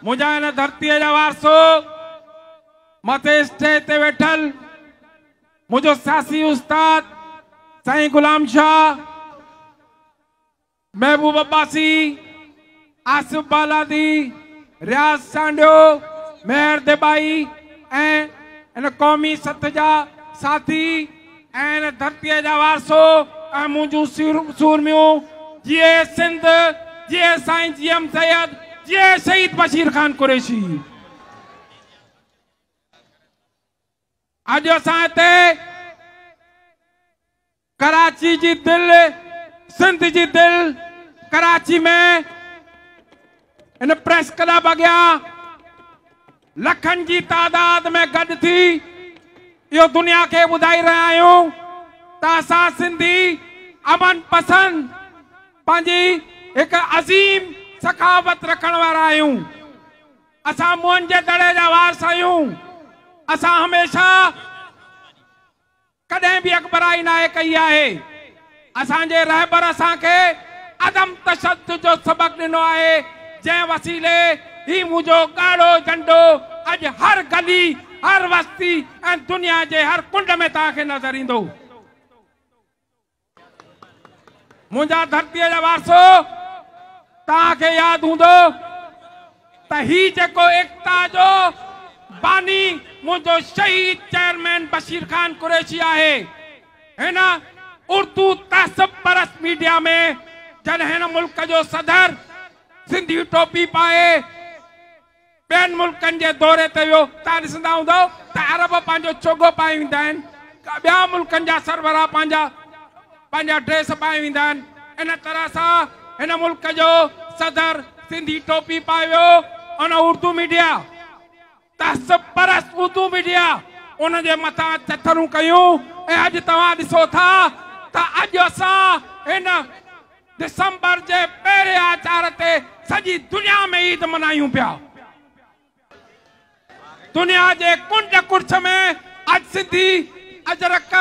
منهنجا هن ڌرتيء جا وارثو، مٿين اسٽيج تي ويٺل منهنجو سياسي استاد سائين غلام شاهه، محبوب عباسي، آصف بالادي، رياض سانڊيو، مهر ديبائي ۽ ان قومي سٿ جا ساٿي، اي هن ڌرتيء جا وارثو، اي منهنجون سورميون، جيئي سنڌ، جيئي سائين جي ايم سيد، جيئي شهيد بشير خان قريشي. اڄ اسان هتي ڪراچي جي دل، سنڌ جي دل ڪراچي ۾ ان پريس ڪلب اڳيان لکن جي تعداد ۾ گڏ ٿي اهو دنيا کي ٻڌائي رهيا آهيون ته اسان سنڌي امن پسند پنهنجي هڪ عظيم سخاوت رکڻ وارا آهيون اسان موهن جي دڙي جا وارث آهيون اسان هميشه ڪڏهن به اڳڀرائي ناهي ڪئي آهي. اسان جي رهبر اسان کي عدم تشدد جو سبق ڏنو آهي، جنهن وسيلي هي منهنجو ڳاڙهو جهنڊو اڄ هر گلي، هر وستي ۽ دنيا جي هر ڪنڊ ۾ توهان کي نظر ايندو. منهنجا ڌرتيء جا وارثو توهان کي ياد هوندو ته هي جيڪو ايڪتا جو باني منهنجو شهيد چيئرمين بشير خان قريشي آهي هن اردو تهذب پرست ميڊيا ۾ جڏهن هن ملڪ جو صدر سنڌي ٽوپي پائي ٻين ملڪن جي دوري تي ويو، توهان ڏسندا هوندؤ ته عرب پنهنجو چوگو پائي ويندا آهن، ٻيا ملڪن جا سربراهه پنهنجا پنهنجا ڊريس پائي ويندا آهن، ان طرح سان هن ملڪ جو صدر سنڌي ٽوپي پائي ويو، ان اردو ميڊيا تهذب پرست اردو ميڊيا ان جي مٿان چٿرون ڪيون ۽ اڄ توهان ڏسو ٿا ته اڄ اسان هن ڊسمبر جي پهرين آچار تي سڄي دنيا ۾ عيد ملهايون پيا. دنيا جي ڪنڊ ڪڙڇ ۾ اڄ سنڌي اجرڪ،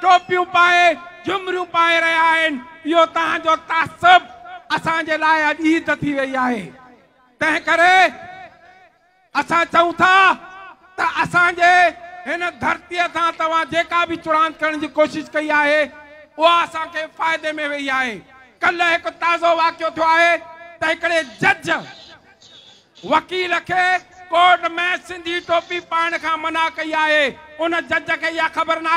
ٽوپيون پائي، جهمريون پائي رهيا آهن. اهو توهان جو تعصب اسان جي لاء اڄ عيد ٿي وئي آهي. تنهن ڪري. اسان چئون ٿا ته اسان جي هن ڌرتيء سان توهان جيڪا به چڙاند ڪرڻ جي ڪوشش ڪئي آهي، اها اسان کي فائدي ۾ ويئي آهي. ڪلهه هڪ تازو واقعو ٿيو آهي ته هڪڙي جج وڪيل کي ڪورٽ ۾ سنڌي ٽوپي پائڻ کان منع ڪئي آهي. ان جج کي اها خبر ناهي.